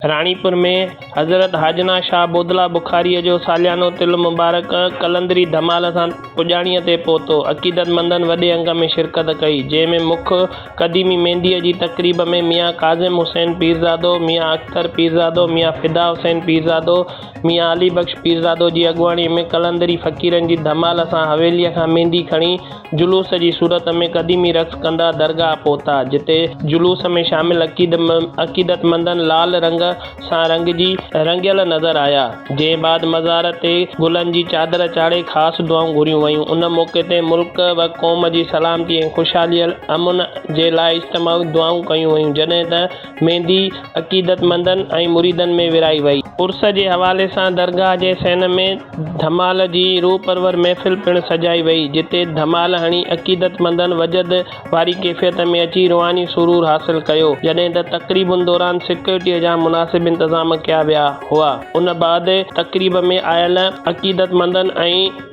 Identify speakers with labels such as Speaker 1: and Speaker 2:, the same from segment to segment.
Speaker 1: راڻيپور ۾ حضرت حاجنا شاهه بودلا بخاريء جو ساليانو تل مبارڪ قلندري ڌمال سان پڄاڻيء تي پهتو. عقيدتمندن وڏي انگ ۾ شرڪت ڪئي، جنهن ۾ مک قديمي مينديء جي تقريب ۾ ميان ڪاظم حسين پيرزادو، ميان اختر پيرزادو، ميان فدا حسين پيرزادو، ميان علي بخش پيرزادو جي اڳواڻيء ۾ قلندري فقيرن جي ڌمال سان حويليء کان ميندي کڻي جلوس جي صورت ۾ قديمي رقص ڪندا درگاهه پهتا، جتي جلوس ۾ شامل عقيدتمندن لال رنگ سان رنگجي رنگيل نظر آيا، جنهن بعد مزار تي گلن جي چادر چاڙهي خاص دعائون گهريون ويون، ان موقعي تي ملڪ و قوم جي سلامتي ۽ خوشحالي امن جي لاء اجتماعي دعائون ڪيون ويون، جڏهن ته. ميندي عقيدتمندن ۽ مريدن ۾ ورهائي وئي. عرس جي حوالي سان درگاهه جي صحن ۾ ڌمال جي روح پرور محفل پڻ سجائي وئي، جتي ڌمال هڻي عقيدتمندن وجد واري ڪيفيت ۾ اچي روحاني سرور حاصل ڪيو، جڏهن ته تقريبن دوران سيڪيورٽيء جا مناسب انتظام ڪيا ويا هئا. ان بعد تقريب ۾ آيل عقيدتمندن ۽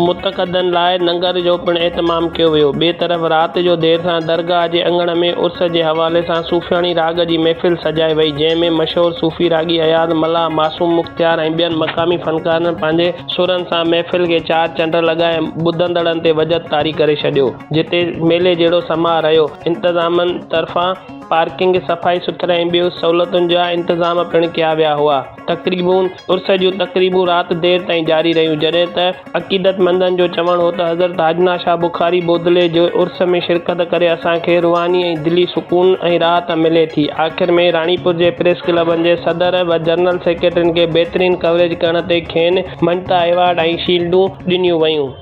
Speaker 1: متقدن لاء ننگر جو پڻ اهتمام ڪيو ويو. ٻئي طرف رات جو دير سان درگاهه جي اڱڻ ۾ عرس جي حوالي سان صوفياڻي راڳ جي محفل سجائي وئي، جنهن ۾ مشهور صوفي راڳي اياز ملاح، معصوم مختيار ۽ ٻين مقامي فنڪارن پنهنجي سرن سان محفل کي چار چنڊ لڳائي ٻڌندڙن تي وجد طاري ڪري ڇڏيو، جتي ميلي جهڙو سماء رهيو. انتظامن طرفان پارڪنگ، صفائي سٿرائي ۽ ٻيون سهولتن جا انتظام پڻ ڪيا ويا هئا. تقريبون، عرس جون تقريبون رات دير تائين جاري رهيون، جڏهن ته عقيدت مندن جو چوڻ هو ته حضرت حاجنا شاهه بخاري بودلي جي عرس ۾ شرڪت ڪري اسان کي روحاني ۽ دلي سڪون ۽ راحت ملي ٿي. آخر ۾ راڻيپور جي پريس ڪلبن جي صدر و جنرل سيڪريٽرين کي بهترين ڪوريج ڪرڻ تي کين مڃتا ايوارڊ ۽ شيلڊون ڏنيون ويون.